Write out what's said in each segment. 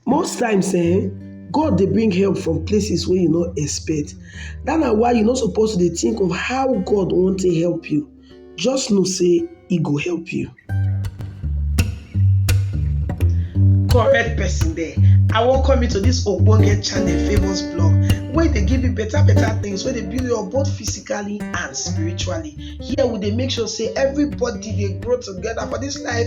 Most times um God dey bring help from places wey you no expect dat na why you no suppose to dey think of how God wan take help you just know say e go help you. correct person there i welcome you to this ogbonge channel famous blog wey dey give you better better things wey dey build you up both physically and spiritually here we dey make sure say everybody dey grow together for this life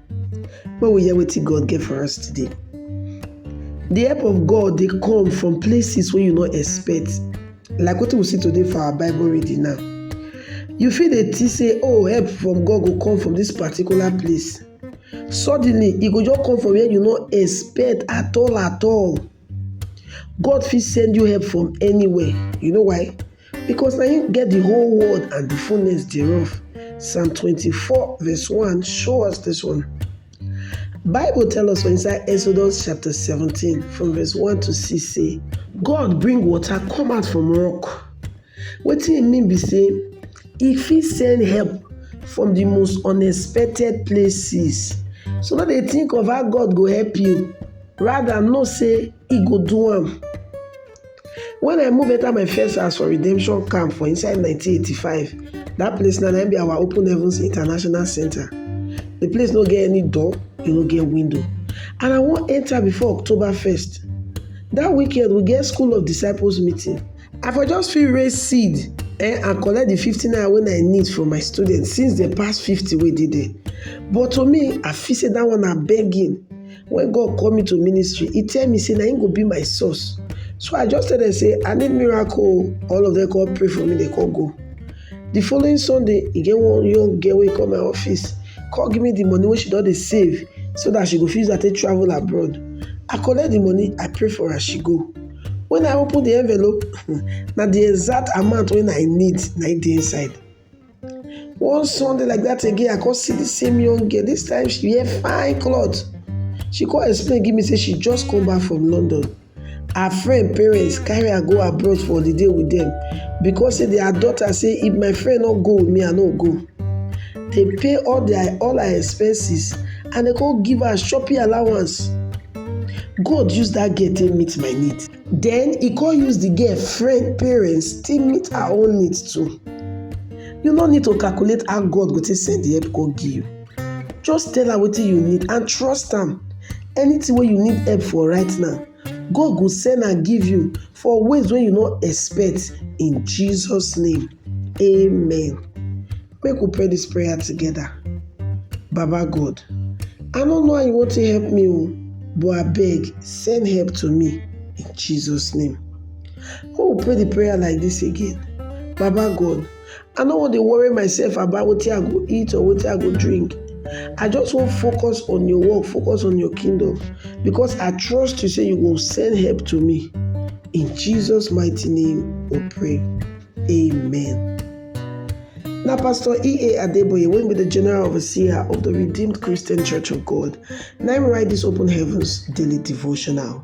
When we hear wetin God get for us today, the help of God dey come from places wey you no expect. Like wetin we see today for our Bible reading now. You fit dey think say, oh, help from God go come from this particular place. Suddenly, e go just come from where you no expect at all at all. God fit send you help from anywhere. You know why? Because na him get the whole world and the fullness thereof. Psalm 24 verse 1 show us this one. Bible tell us for inside Exodus chapter 17 from verse 1 to 6 say, God bring water come out from rock Wetin e mean be sey e fit send help from de most unexpected places so no dey think of how God go help you rather know sey e go do am. When I move enter my first house for redemption camp for inside nineteen eighty five dat place now na im be our open heavens international center de place no get any door e no get window and I wan enter before October first dat weekend we get school of disciples meeting I for just fit raise seed eh, and collect the 50 naira when I need from my students since the past 50 wey dey there. But to me, I feel say that one na begging. When God call me to ministry, He tell me say na Him go be my source. So I just tell them say I need miracle. All of them come pray for me, they come go. The following Sunday, e get one young girl wey come my office, come give me the money wey she don dey save so that she go fit use am take travel abroad. I collect the money, I pray for her, she go. when I open the envelope na the exact amount wey I need na im dey inside. One Sunday like that again I come see the same young girl this time she wear fine cloth she come explain give me say she just come back from London her friend parents carry her go abroad for holiday with them because say their daughter say if my friend no go with me I no go. dey pay all their all her expenses and dey come give her shopping allowance. God use that girl take meet my need. Then he come use the girl friend parents take meet her own need too. You no need to calculate how God go take send the help come give you. Just tell am wetin you need and trust am. Anything wey you need help for right now, God go send am give you for ways wey you no expect in Jesus name. Amen. Make we pray this prayer together. Baba God, I no know how you want to help me o, but abeg send help to me in Jesus name. Make we pray the prayer like this again. Baba God, I no wan dey worry myself about wetin I go eat or wetin I go drink. I just wan focus on your work, focus on your kingdom because I trust you say you go send help to me. In Jesus mighty name we pray. Amen. Na Pastor E.A. Adeboye wey be the General Overseer of the Redeemed Christian Church of God na im write this Open Heavens Daily Devotional.